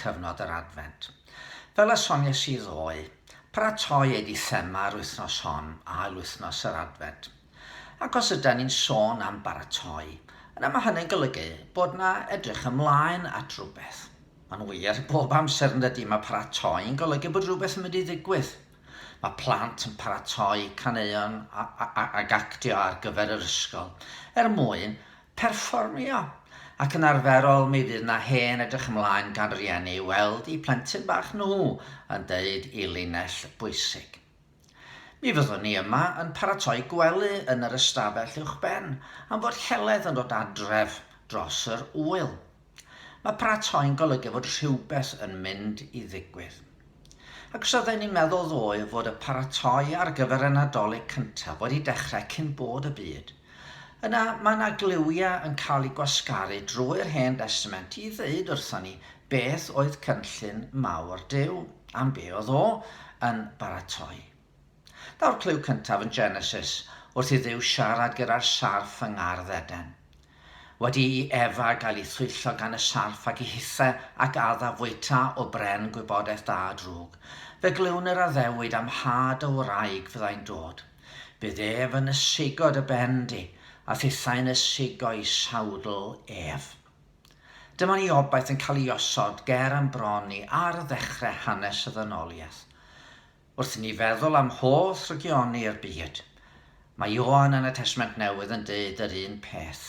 cyfnod yr Adfent. Fel y sonies i ddoe, paratoi ei di thema yr wythnos hon, Ail Wythnos yr Adfent. Ac os yda ni'n sôn am baratoi, yna mae hynny'n golygu bod na edrych ymlaen at rhywbeth. Mae'n wir, bob amser yn dydi, mae paratoi yn golygu bod rhywbeth yn mynd i ddigwydd. Mae plant yn paratoi caneuon ac actio ar gyfer yr ysgol er mwyn perfformio, ac yn arferol mi fydd 'na hen edrych ymlaen gan rieni i weld eu plentyn bach nhw yn deud eu linell bwysig. Mi fyddwn ni yma yn paratoi gwely yn yr ystafell uwchben am fod Heledd yn dod adref dros yr ŵyl. Mae paratoi'n golygu fod rhywbeth yn mynd i ddigwydd. Ac os oedden ni'n meddwl ddoe fod y paratoi ar gyfer y Nadolig cyntaf wedi dechrau cyn bod y byd, yna mae yna gliwiau yn cael eu gwasgaru drwy'r Hen Destament i ddeud wrthon ni beth oedd cynllun mawr Duw, am be oedd o yn baratoi. Daw'r clyw cyntaf yn Genesis wrth i Dduw siarad gyda'r sarff yng ngardd Eden. Wedi i Efa gael ei thwyllo gan y sarff ac i hithe ac adda fwyta o bren gwybodaeth da a drwg, fe glywn yr addewid am had o wraig fyddai'n dod. Bydd Ef yn ysugo dy ben di, a phethau'n ysugo i sawdl Ef. Dyma ni obaith yn cael ei osod ger yn bron ni ar ddechrau hanes y ddynoliaeth. Wrth i ni feddwl am holl rygioni i'r byd, mae Ioan yn y Testament Newydd yn deud yr un peth.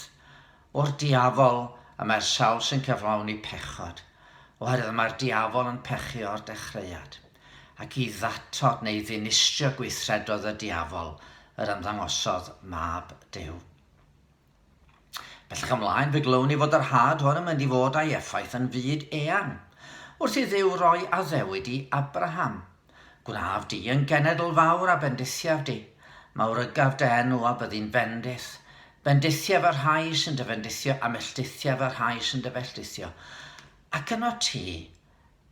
O'r diafol y mae'r sawl sy'n cyflawni pechod, oherwydd mae'r diafol yn pechu o'r dechreuad. Ac i ddatod neu ddinistrio gweithredoedd y diafol yr ymddangosodd Mab Duw. Bellach ymlaen fe glywn ni fod yr had hwn yn mynd i fod a'i effaith yn fyd eang. Wrth i Dduw roi addewid i Abraham, Gwnaf di yn genedl fawr a bendithiaf di, mawrygaf dy enw a byddi'n fendith. Bendithiaf y rhai sy'n dy fendithio a melltithiaf y rhai sy'n dy felltithio. Ac yno ti,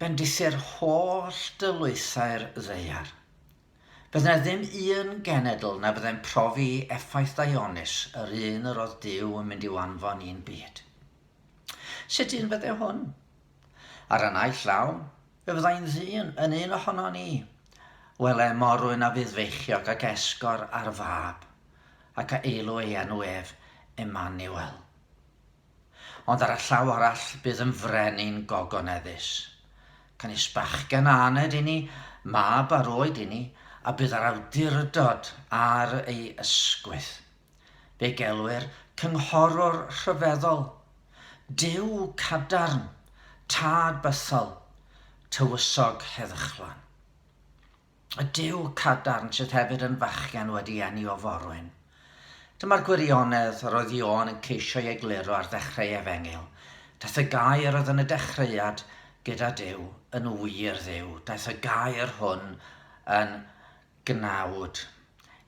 bendithir holl dylwythau'r ddaear. Bydd yna ddim un genedl na fyddai'n profi effaith ddaionnus yr un yr oedd Duw yn mynd i'w anfon i'n byd. Sut un fydde hwn? Ar y naill law, fe fyddai'n ddyn yn un ohono ni. Wele morwyn a fydd feichiog ac esgor ar fab, ac a eilw ei enw ef Emmanuel. Ond ar y llaw arall bydd yn frenin gogoneddus. Canys bachgen aned inni, mab ar oed inni, a bydd yr awdurdod ar ei ysgwydd. Fe gelwir Cynghorwr Rhyfeddol, Duw cadarn, Tad bythol, Tywysog heddychlon. Y Duw cadarn sydd hefyd yn fachgen wedi eni o forwyn. Dyma'r gwirionedd yr oedd Ioan yn ceisio ei egluro ar ddechrau Efengyl. Daeth y gair oedd yn y dechreuad gyda Duw yn wir Dduw. Daeth y gair hwn yn gnawd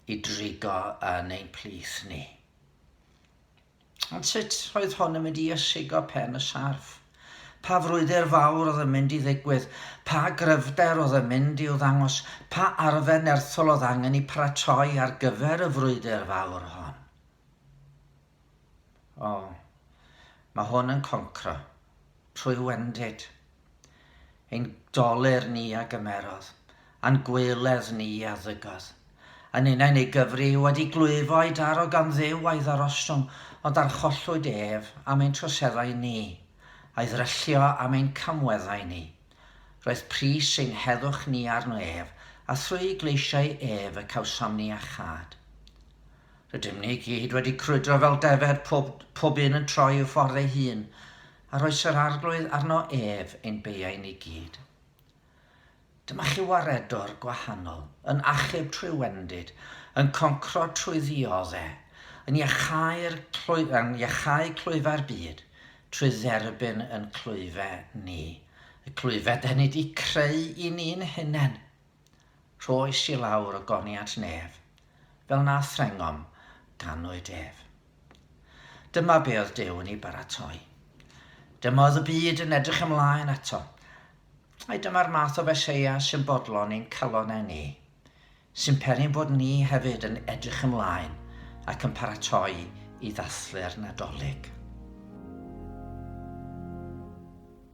i drigo yn ein plith ni. Ond sut oedd hon yn mynd i ysigo pen y sarff? Pa frwydr fawr oedd yn mynd i ddigwydd? Pa gryfder oedd yn mynd i'w ddangos? Pa arfer nerthol oedd angen i paratoi ar gyfer y frwydr fawr hon? O, mae hwn yn concro, trwy wendid, Ein doler ni a gymerodd, a'n gwaeledd ni a ddygodd. A ninnau yn ei gyfri, wedi glwyfo a'i daro gan Dduw a'i ddarostwng, ond archollwyd ef am ein troseddau ni, a'i ddryllio am ein camweddau ni. Roedd pris ein heddwch ni arno ef, a thrwy gleisiau ef y cawsom ni achâd. Rydym ni i gyd wedi crwydro fel defaid, pob, pob un yn troi i'w ffordd ei hun. a roes yr Arglwydd arno ef ein beuain i gyd. Dyma chi waredwr gwahanol, yn achub trwy wendid, yn concro trwy ddiodde, yn iachau'r clwy, yn iachau clwyfau'r byd, trwy dderbyn yn clwyfe ni, y clwyfe da ni di creu i ni'n hunen. Rhoes i lawr o goniant nef, fel na threngom ganwyd ef. Dyma be oedd Duw yn ei baratoi. Dyma oedd y byd yn edrych ymlaen ato. Ai dyma'r math o Feseia sy'n bodlon ein calonau ni, sy'n peri bod ni hefyd yn edrych ymlaen ac yn paratoi i ddathlu'r Nadolig?